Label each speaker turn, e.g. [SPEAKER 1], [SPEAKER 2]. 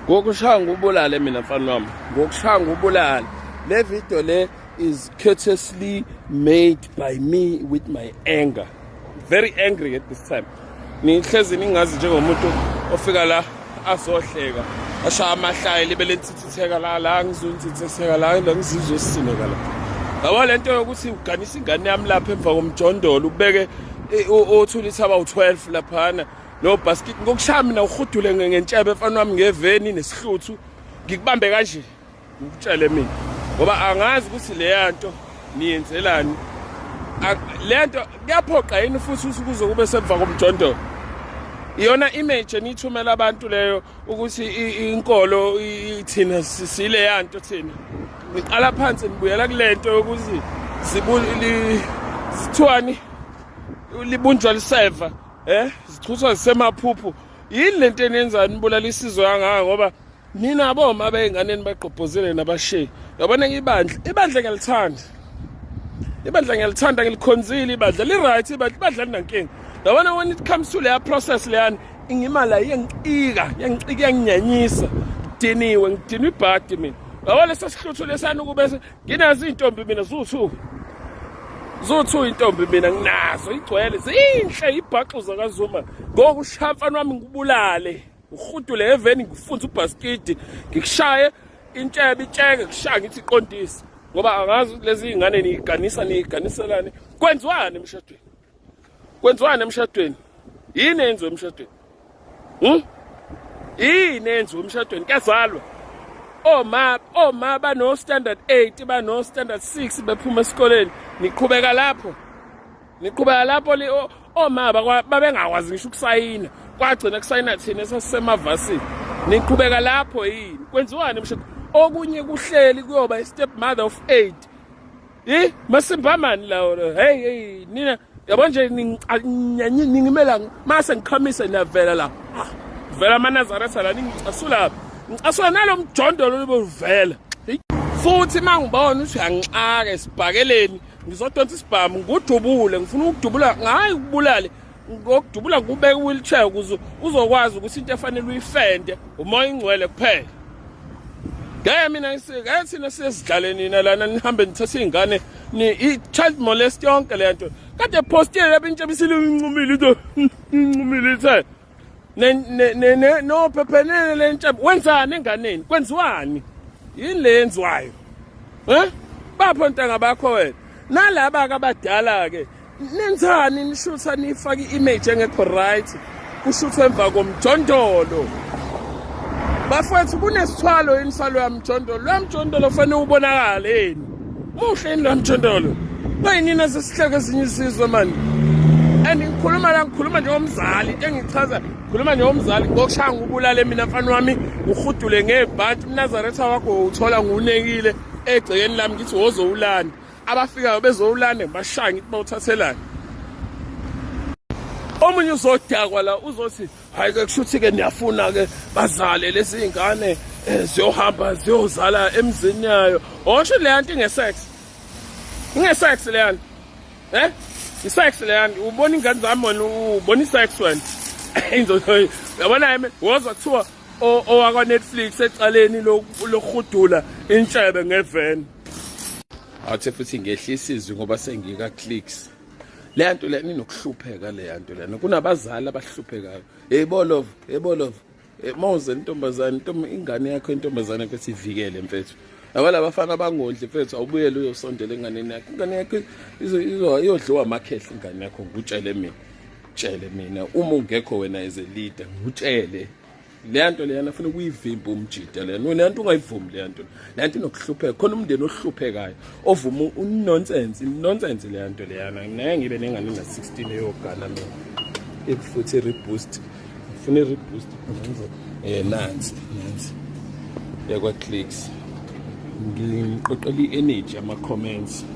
[SPEAKER 1] ngokushaya ngubulale mina mfana wami ngokushaya ngubulale le video le is courteously made by me with my anger very angry at this time nihlezi ningazi njengomuntu ofika la azohleka ashaya amahlaya libe lenthithitheka la la ngizonthithitheka la la ngizizosineka la yabo le nto yokuthi uganisa ingane yami lapha emva komjondolo ubeke othulisa abawu-12 laphana no basket ngokushaya mina uhudule ngentshebe mfana wami ngeveni nesihluthu ngikubambe kanje ngikutshele mina ngoba angazi ukuthi leya nto niyenzelani le nto kuyaphoqa yini futhi usuku uzokube semva komjondolo iyona image eniyithumela abantu leyo ukuthi inkolo ithina sile yanto thina niqala phansi nibuyela kulento yokuthi zibuli sithwani libunjwa liseva Eh, zichuswa zisemaphuphu. Yini lento enenzani nibulala isizwe kangaka ngoba nina boma beyinganeni bagqobhozele nabashe. Yabona ibandla, ibandla ngiyalithanda. Ibandla ngiyalithanda ngilikhonzile ibandla. Li right ibandla, ibandla linankinga. Yabona when it comes to leya process leyani ingimala yengicika, yengicika yanginyanyisa. Ngidiniwe, ngidinwe ibhadi mina. Yabona sesihluthu lesani ukube nginazo iy'ntombi mina zuwu-two zuwu-two intombi mina nginazo igcwele zinhle ibhaxu zakazuma ngoku ushaya mfana wami ngikubulale ngihudule eveni ngifunze ubhasikidi ngikushaye intshebe itsheke kushaya ngithi iqondise ngoba angazi lezi iy'ngane niyiganisa niyiganiselani kwenziwani emshadweni kwenziwani emshadweni yini enziwe emshadweni hm yini enziwe emshadweni kuyazalwa oma oma bano standard 8 bano standard 6 bephuma esikoleni niqhubeka lapho niqhubeka lapho oma babengakwazi ngisho ukusayina kwagcina kusayina thina esasisemavasini niqhubeka lapho yini kwenziwani emshadweni okunye kuhleli kuyoba i step mother of 8 Hey, masimbamani lawo. Hey, hey, nina yabo nje ningimela mase ngikhamise niyavela la. Vela amanazaresa la ningicasula. Ngicasula nalomjondolo lobuvela. Futhi mangibona uthi uyangixaka esibhakeleni ngizodonsa isibhamu ngudubule ngifuna ukudubula ngayi kubulale ngokudubula kubeka wheelchair ukuze uzokwazi ukuthi into efanele uyifende umoya ingcwele kuphela ngeke mina ngeke thina siyezidlaleni na lana nihambe nithathe izingane ni i-child molest yonke le nto kade postile lapha intsha bisile incumile into incumile ithe no phephenene le ntsha wenzani enganeni kwenziwani yini le yenziwayo um bapho ntanga bakho wena nalaba-ke abadala-ke nenzani nishutha nifake i-image engekho right kushuthwe emva komjondolo bafowethu kunesithwalo yini salo yamjondolo lo yamjondolo fanele ubonakale yini muhle yini lo yamjondolo bayinini esesihleke ezinye isizwe mani and ngikhuluma la ngikhuluma njengomzali into engichaza ngikhuluma njengomzali ngokushaya ngubulale mina mfana wami ngihudule ngebhanti umnazaretha wakho uthola ngunekile egcekeni lami ngithi wozowulanda abafikayo bezowulanda ngibashaya ngithi bawuthathelani omunye uzodakwa la uzothi hayi ke kushuthi ke niyafuna ke bazale lezi zingane eh, ziyohamba ziyozala emzini yayo osho le nto ingesex ingesex le nto eh isex le nto ubona ingane zami wena ubona isex wena inzothi yabona yimi wozwa kuthiwa owakwa Netflix ecaleni lokuhudula intshebe ngeveni athe futhi ngehlisa izwi ngoba sengika clicks le nto lena inokuhlupheka le nto lena kunabazali abahluphekayo hey bolov hey bolov eh, mawuze intombazane ingane yakho intombazane yakho sivikele mfethu abala bafana abangondli mfethu awubuyele uyosondela enganeni yakho ingane yakho iyodliwa amakhehle ingane yakho ngutshele mina tshele mina uma ungekho wena as a leader ngutshele leya nto leyana funa ukuyivimba umjida lena leya nto ungayivumi leya nto leya nto inokuhlupheka khona umndeni ohluphekayo ovuma unonsense inonsense leya nto leyana naye ngibe nengane na-16 eyogana mina ekufuthi i-reboost ngifuna i-reboost ngenze um eh, nansi nansi yakwa-clicks ngiqoqela i-energy ama-comments